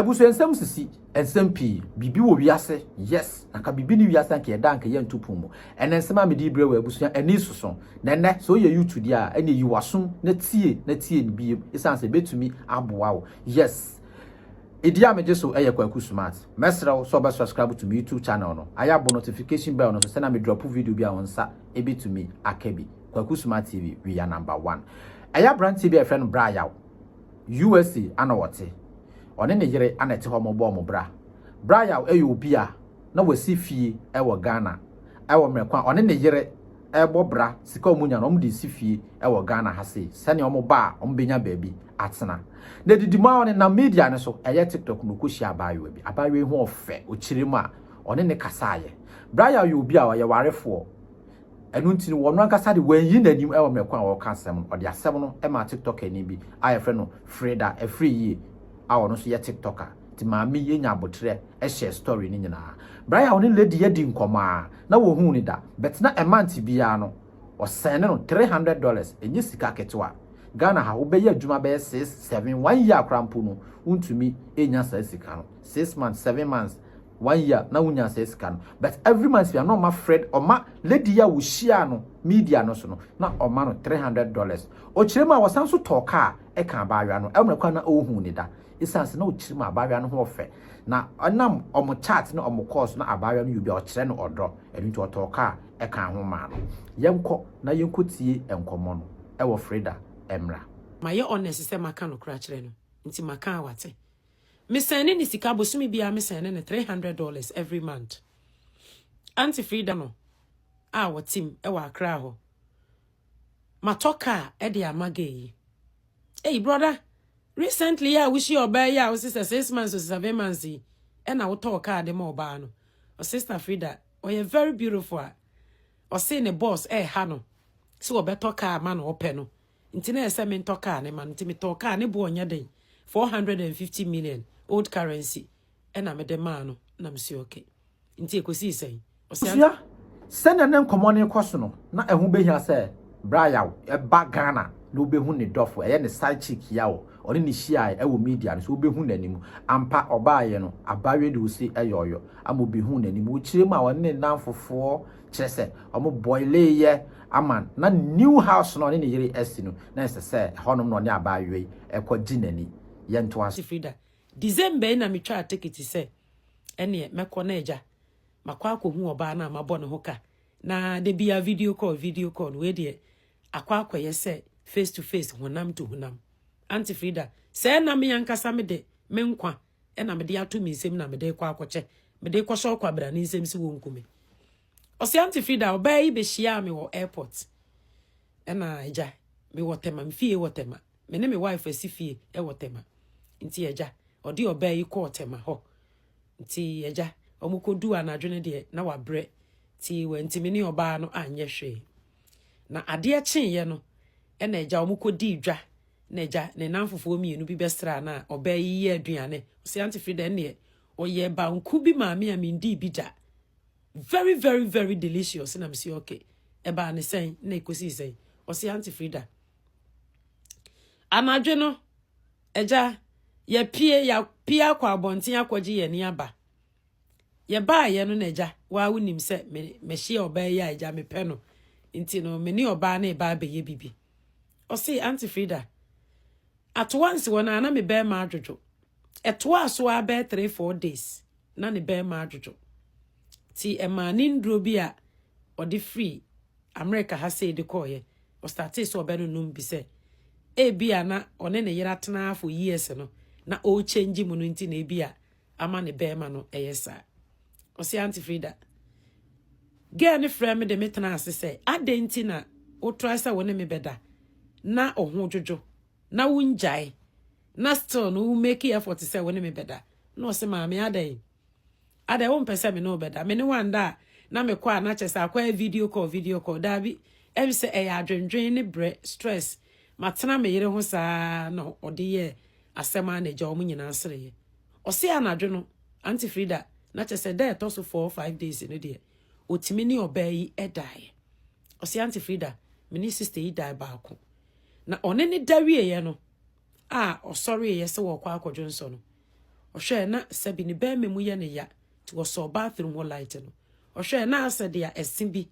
Abusua nsɛm sisi nsɛm pii. Biribi wɔ wiase, yes, na ka biribi ne wiase anka yɛda anka yɛnto pon mu. Ɛnɛ nsɛm a mede rebrɛ wo abusua ani soso. Na ɛnɛ sɛ woyɛ YouTube deɛ a, ɛneɛ yi w'asom na tie na tie no biem esiane sɛ ɛbɛtumi aboa wo. Yes, ɛdi a megye so ɛyɛ Kwaku Smart. Mɛsrɛ wo sɛ wobɛ subscribe to me YouTube channel no, ayɛ abɔ notification bell no so sɛnea me drop video bi a wo nsa ɛbɛtumi aka bi. Kwaku Smart TV, we are number one. Ɛyɛ aberanteɛ bi a yɛfrɛ no Bra Yaw. USA ana ɔte. Ɔne ne yere ana ɛte hɔ mo bɔ wɔn bra. Brayaw ɛyɛ obi a na wasi fie ɛwɔ Ghana ɛwɔ mmerɛ ko a ɔne ne yere ɛbɔ bra sika wɔn nya no wɔn de resi fie ɛwɔ Ghana ha sei sɛnea wɔn ba a wɔn bɛnya baabi atena na ɛdidi mu a ɔne nam media no so ɛyɛ tiktok na ɔkɔ hyia abaayewa bi abaayewa yi ho ɔfɛ ɔkyerɛ mu a ɔne ne kasaayɛ Brayaw yɛ obi a ɔyɛ warefoɔ Ɛno nti no, ɔno ankasa de, wanyi n'anim wɔ mmerɛ ko a ɔreka asɛm no. Ɔde asɛm no maa Tiktokani bi a wɔfrɛ no Freda Afriyie a ɔno nso yɛ Tiktoker. Nti maame yi nya aboterɛ hyɛɛ story no nyinaa. Berɛ a ɔne lady yi adi nkɔmmɔ ara na wɔhuu no da, but na month biara no, ɔsɛne no three hundred dollars, ɛnyɛ sika ketewa. Ghana ha, wobɛyɛ adwuma bɛyɛ six, seven, one year koraa mpo no, wontumi nnya saa sika no. Six months, seven months, one year na wo nya saa sika no but every month bia na ɔma Fred ɔma lady yi a wo hyia no media no so no na ɔma no three hundred dollars ɔkyerɛ mu a wɔsan so tɔɔ car ɛka abaayewa no ɛmrɛ kwan na ɔhu ne da ɛsiane sɛ na ɔkyerɛ mu abaayewa no ho ɔfɛ na ɔnam ɔmo chat ne ɔmo calls na abaayewa no yɛ obi a ɔkyerɛ no ɔdɔ ɛno nti ɔtɔɔ car ɛka ho maa no yɛnkɔ na yɛnkɔ tie nkɔmmɔ no ɛwɔ Freda ɛmra. Mayɛ honest sɛ maka nokora akyerɛ no nti maka a wate. Me sɛne ne sika bosome biara me sɛne no three hundred dollars every month Auntie Frida no a wɔtim ɛwɔ Accra hɔ matɔ car ɛde ama gay yi eyi brother recently a wohyia ɔbaa yi a wosi sɛ six months or seven months yi ɛna wotɔ car de ma ɔbaa no ɔ sister Frida ɔyɛ very beautiful a ɔse ne boss ɛha no sɛ wɔbɛtɔ car ma no ɔpɛ no nti na ɛsɛ sɛ mentɔ kaa no ma no nti metɔɔ kaa ne boɔ nyɛ den 450 million old currency ɛna mede maa no na mesua okay nti ɛkɔsii sɛn ɔsɛ abusua sɛnea ne nkɔmmɔ no rekɔ so no na ɛho bɛhia sɛ berɛ a yaw ɛba Ghana na wobɛhu ne dɔfo ɛyɛ ne side chick yaw ɔne ne hyiae ɛwɔ media no so wobɛhu n'anim ampa ɔbaaeɛ no abayewa de ose ɛyɔɔyɔ ama obi hu n'anim wokyerɛ mu a ɔne ne nnamfofoɔ kyerɛ sɛ ɔmo bɔilee yɛ ama na new house no ɔne ne yere asi no na ɛsɛ sɛ ɛhɔnom na ɔne abaayewa yi ɛkɔ gye n'ani. Yɛntoa so. Frida, December yi na me twaa tekiti sɛ ɛneɛ mɛkɔ na agya makɔ akɔ hu ɔbaa no a mabɔ ne ho ka na da biaa video call video call no wei deɛ akɔ akɔ yɛ sɛ face to face honam to honam Auntie Frida, sɛɛ na me ankasa mede me nkwa na mede ato me nsam na mede rekɔ akɔkyɛ, mede rekɔhyɛ ɔkwabra no nsam sɛ wɔnku me. Ɔse Auntie Frida, ɔbaa yi bɛhyiaa me wɔ airport. Ɛna agya, mewɔ Tema, me fie wɔ Tema. Me ne me wife asi fie wɔ Tema. Nti agya, ɔde ɔbaa yi kɔɔ Tema hɔ. Nti agya, wɔkɔduu anadwo no deɛ na wabrɛ. Nti wantumi ne ɔbaa no anyɛ hwee. Na adeɛ kyeeɛ no, ɛna agya wɔkɔdii dwa. N'agya, ne nnamfofoɔ mmienu bi bɛsraa no a, ɔbaa yi yɛɛ aduane. Ɔse, Auntie Frida, ɛnneɛ, ɔyɛɛ banku bi maa me a mendii bi da. Very, very, very delicious. Na mese, okay. Ɛbaa ne sɛn? Na ɛkɔsii sɛn? Ɔse, Auntie Frida, anadwo no, agya, yɛpie, yɛapie akɔ abɔnten akɔgye yɛn ani aba. Yɛbaayɛ no na agya, waa wonim sɛ me, mehyia ɔbaa yi a agya mepɛ no. Nti no, me ne ɔbaa no reba abɛyɛ bibi. Ɔse, Aunty Frida, atoa nsi hɔ no a na me bɛrima adwodwo. Ɛtoaa so ara bɛyɛ three four days na ne bɛrima adwodwo. Ti ɛmaa ne nnuro bi a ɔde firi Amerika ha sei de kɔɔyɛ. Ɔstatee sɛ ɔbɛnonom bi sɛ ebi a na ɔne ne yere atena for years no na ɔrechange mu no nti na ebi a ama ne bɛrima no ɛyɛ saa ɔsi auntie frida girl ne frɛ me de me tena ase sɛ adɛn nti na wotrae sɛ wo ne me bɛda na ɔho dwodwo na wongyae na still no wo make effort sɛ wo ne me bɛda na ɔse maame adɛn adɛn wompɛ sɛ me ne wobɛda me ne wanda a na mekɔ a na kyɛ sɛ akɔyɛ video call video call daabi ɛm sɛ ɛyɛ adwendwen ne brɛ stress matena me yere ho saa na ɔde yɛ asɛm a na agya wɔn nyinaa sereeɛ Ɔse anadwo no Aunty Frida na kyerɛ sɛ da ɛtɔ so four five days no deɛ ɔtumi ne ɔbaa yi daeɛ. Ɔse Aunty Frida me ne sister yi dae baako. Na ɔne ne da wieeɛ no a ɔsɔreeɛ sɛ wɔrekɔ akɔdwo nsɔ no, ɔhwɛɛ na sɛbi ne bɛrima mu yɛ ne ya nti ɔsɔɔ bathroom hɔ light no. Ɔhwɛɛ na asɛ deɛ ɛse bi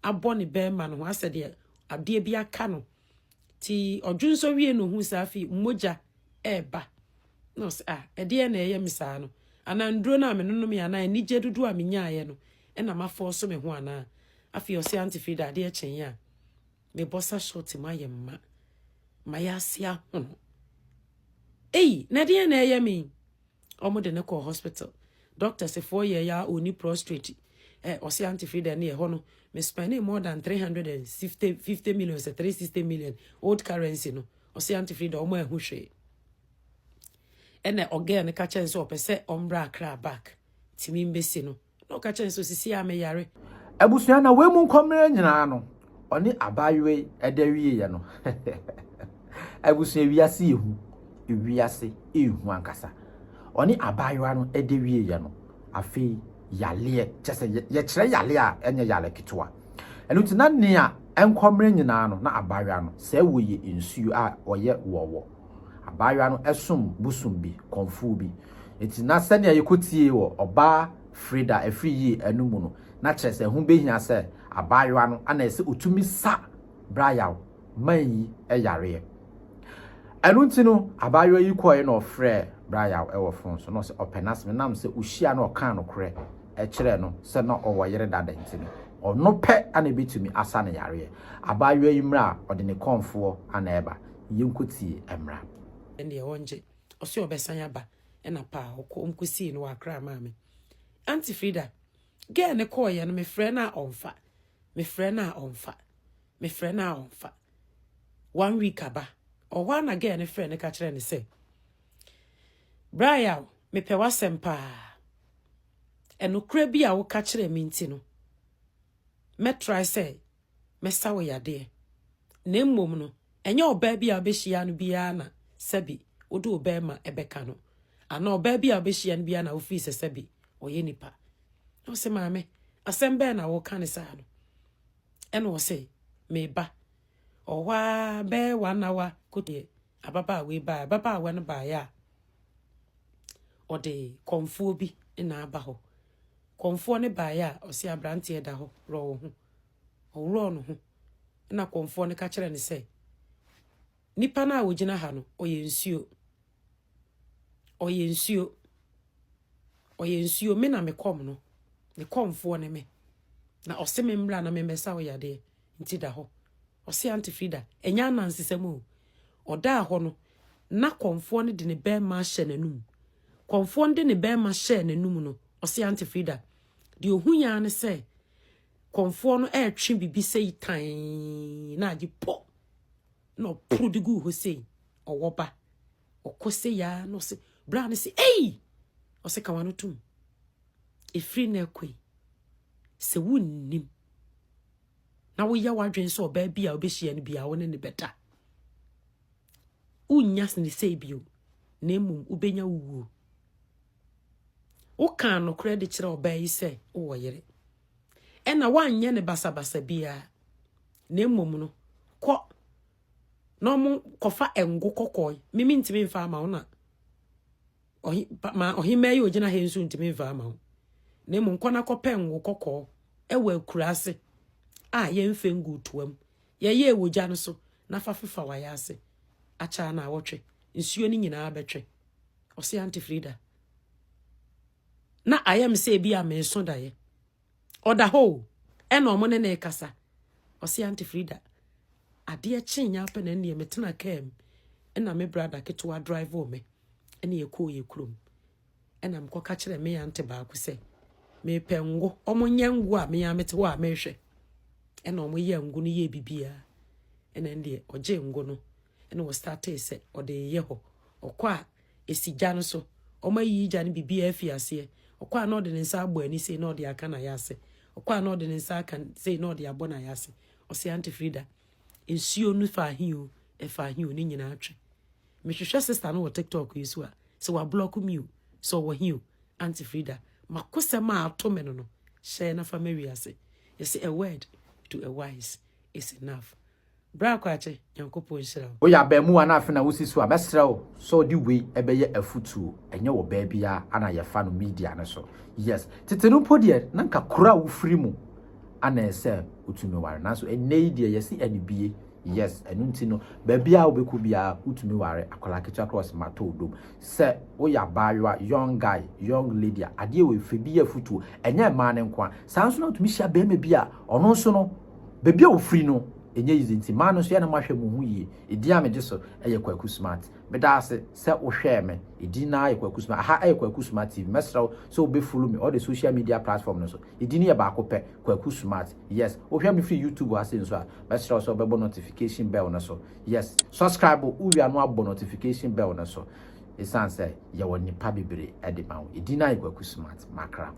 abɔ ne bɛrima no ho asɛ deɛ adeɛ bi aka no Nti ɔdwonsɔ wiee no ohuu sɛ afei mogya reba. Na ɔse, ah, ɛdeɛ na ɛyɛ me saa no? Anaa nnuro no a menonomee anaa anigyeɛ dodoɔ a menyaaeɛ no na mafɔɔso me ho anaa? Afei ɔse Auntie Frida adeɛ kyeeɛ a mebɔ sa short mu ayɛ mma ma yɛase ahono. Ei, na ɛdeɛ na ɛyɛ me? ɔmo de no kɔɔ hospital doctors foɔ yɛɛ ya ɔni prostrate ɛ ɔsi aunty Frida ne ɛhɔ no me spending more than three hundred and fifty fifty million sɛ three sixty million old currency no ɔsi aunty Frida ɔmo ɛho hwee ɛna ɔgɛɛ no ka kyɛn sɛ ɔpɛ sɛ ɔmbra akra back timi mbesi no. Na ɔka kyerɛɛ no sɛ, Osisi a meyare. Abusua na wei mu nkɔmmerɛ nyinaa no ɔne abaayewa yi ɛda wieɛ no abusua wiase yɛ hu wiase ehu ankasa ɔne abaayewa no ɛda wieɛ no afei yaleɛ kyɛ sɛ yɛkyerɛ yaleɛ a ɛnyɛ yale ketewa ɛno nti na nea nkɔmmerɛ nyinaa no na abaayewa no sɛ wɔyɛ nsuo a ɔyɛ wɔwɔ Abaayewa no som bosom bi, kɔmfoɔ bi. Enti na sɛnea yɛkɔtiee wɔ ɔbaa Freda afiri yie no mu no, na kyerɛ sɛ ɛho bɛhia sɛ abaayewa no na ɛsɛ ɔtumi sa Brayaw man yi yareɛ. Ɛno nti no, abaayewa yi kɔɔɛ na ɔfrɛɛ Brayaw wɔ fon so na ɔsɛ ɔpɛ n'asɛm. Ɛnam sɛ ɔhyia na ɔkaa nokorɛ kyerɛɛ no sɛ na ɔwɔ yere dada nti no, ɔno pɛ na ɛbɛtumi asa no yareɛ. Abaayewa yi mmerɛ a ɔde ne kɔmfoɔ na ɛreba, yɛnkɔtie mmra. Ɛndeɛ wɔngye. Ɔse ɔbɛsan aba ɛna paa ɔkɔ wɔn kɔsii no wɔ Accra maame. Auntie Frida, girl no kɔɔeɛ no mefrɛ no a ɔmfa, mefrɛ no a ɔmfa, mefrɛ no a ɔmfa. One week aba, ɔwɔ hɔ ara na girl no frɛ no ka kyerɛ no sɛ, Bra Yaw, mepɛ w'asɛm paa. Ɛnokorɛ bi a woka kyerɛɛ me nti no, mɛtrae sɛ mɛsa wo yadeɛ, na mmom no, ɛnyɛ ɔbaa bi a wobɛhyia no biara na sɛbi wode wo bɛrima bɛka no, anaa ɔbaa bi a wobɛhyia no biara na wofiri sɛ sɛbi ɔyɛ nipa. Na ɔse, maame, asɛm bɛɛ na woka ne saa no? Ɛna ɔse, meba. Ɔwɔ hɔ ara bɛyɛ one hour kodeɛ ababaawa yi baa ababaawa no baeɛ a ɔde kɔmfoɔ bi na aba hɔ. Kɔmfoɔ no baeɛ a, ɔsee aberanteɛ da hɔ, worɔ wo ho. Ɔworɔɔ ne ho, ɛnna kɔmfoɔ no ka kyerɛɛ no sɛ, Nipa no a ɔgyina ha no, ɔyɛ nsuo. Ɔyɛ nsuo. Ɔyɛ nsuo, me na mekɔm no, ne kɔmfoɔ ne me. Na ɔse me mmra na memmɛsa wo yadeɛ. nti da hɔ. Ɔse Aunty Frida, ɛnyɛ anansesɛm o. Ɔdaa hɔ no, na kɔmfoɔ no de ne bɛmma ahyɛ n'anum. Kɔmfoɔ no de ne bɛmma hyɛɛ n'anum no, ɔse Aunty Frida, deɛ ɔhui ara ne sɛ kɔmfoɔ no ɛretwe bibi sei tann na agye pɔ na ɔporo de guu hɔ sei, ɔwɔ ba. Ɔkɔ sei ya na ɔse, bra no se, ei! Ɔse ka wano tom. Ɛfiri na ɛkɔ yi, sɛ wonnim na woyɛ w'adwene sɛ ɔbaa bi a wobɛhyia no bia wo ne ne bɛda wonnya ne sei bio na mmom wobɛnya wo wuo wokaa nokorɛ de kyerɛ ɔbaa yi sɛ wowɔ yere ɛna woanyɛ ne basabasa biara na mmom no kɔ na ɔmo kɔfa ngo kɔkɔe mimi ntumi mfa ama wo na Ɔhe, pa, ma ɔhemmaa yi ogyina ha nso ntumi mfa ama wo. Na mmom kɔ na kɔpɛ ngo kɔkɔɔ ɛwɔ akuraase a yɛmfɛ ngu toam. Yɛyɛɛ wɔ gya no so na fa fefa wayɛ ase. Akyɛ na awɔtwe. Nsuo no nyinaa bɛtwe. Ɔse Auntie Frida. Na ayɛ me sɛ ebi a menso daeɛ. Ɔda hɔ o, ɛna ɔmo ne ne rekasa. Ɔse Auntie Frida, adeɛ kyee nyɛ apɛ na ɛneɛ metena kaa mu. Ɛna me brada ketewa drive wɔ me. Ɛna yɛkɔɔ yɛ kurom. Ɛna mekɔ ka kyerɛ me auntie baako sɛ, mepɛ ngo. Ɔmo nyɛ ngo a me a mete hɔ a mehwɛ. Ɛna ɔmo yɛ ngo no yɛ bibia. Ɛna ɛneɛ ɔgye ngo no. Ɛna ɔstartee sɛ ɔde yɛ hɔ. Ɔkɔ a Esi gya no so. Wɔayiyi gya no biribiara afi aseɛ. Ɔkɔ a na ɔde ne nsa abɔ ani sei na ɔde aka n'ayase. Ɔkɔ a na ɔde ne nsa aka sei na ɔde abɔ n'ayase. Ɔse Aunty Frida, nsuo no faa he o, ɛfaa he o, ne nyinaa twe. Mehwehwɛ sister no wɔ TikTok yi so a, sɛ wablɔko me o, sɛ ɔwɔ he o, Aunty Frida, m'akosɛm a ato me no no, hyɛ na fa ma wiase. Yɛse a word to a wise is enough. Bra Kwakye, Nyankopɔn nhyira wo. Woyɛ abaamuwa na afei na wosi so a, mɛsrɛ wo sɛ wode wei bɛyɛ afutuo. Ɛnyɛ wɔ baa biara na yɛfa no media no so. Yes, tete no mpo deɛ na nka kuro a wofiri mu na ɛsɛ wotumi ware. Nanso ɛnnɛ yi deɛ yɛsi anibue. Yes, ɛno nti no baabiara wobɛkɔ biara wotumi ware akwadaa ketewa koraa ɔsɛ matɔ wo dom. Sɛ woyɛ abaayewa, young guy, young lady a, adeɛ wei fa bi yɛ afutuo. Ɛnyɛ mmaa no nko ara, saa nso na wotumi hyia barima bi a ɔno nso no, Baabi a ɔfiri no ɛnyɛ easy nti maa no nso yɛ na mahwɛ mo ho yie. Edin a megye so yɛ Kwaku Smart. Meda ase sɛ wohwɛɛ me. Edin no ara yɛ Kwaku Smart. Aha yɛ Kwaku Smart TV. Mɛsrɛ wo sɛ wobɛ follow me all the social media platform no so. Edin no yɛ baako pɛ, Kwaku Smart. Yes, wohwɛ me firi YouTube ase nso a, mɛsrɛ wo sɛ wobɛbɔ notification bell no so. Yes, subscribe wo wie a na wabɔ notification bell no so. Ɛsiane sɛ yɛwɔ nnipa bebree de ma wo. Edin no ara yɛ Kwaku Smart. Makra.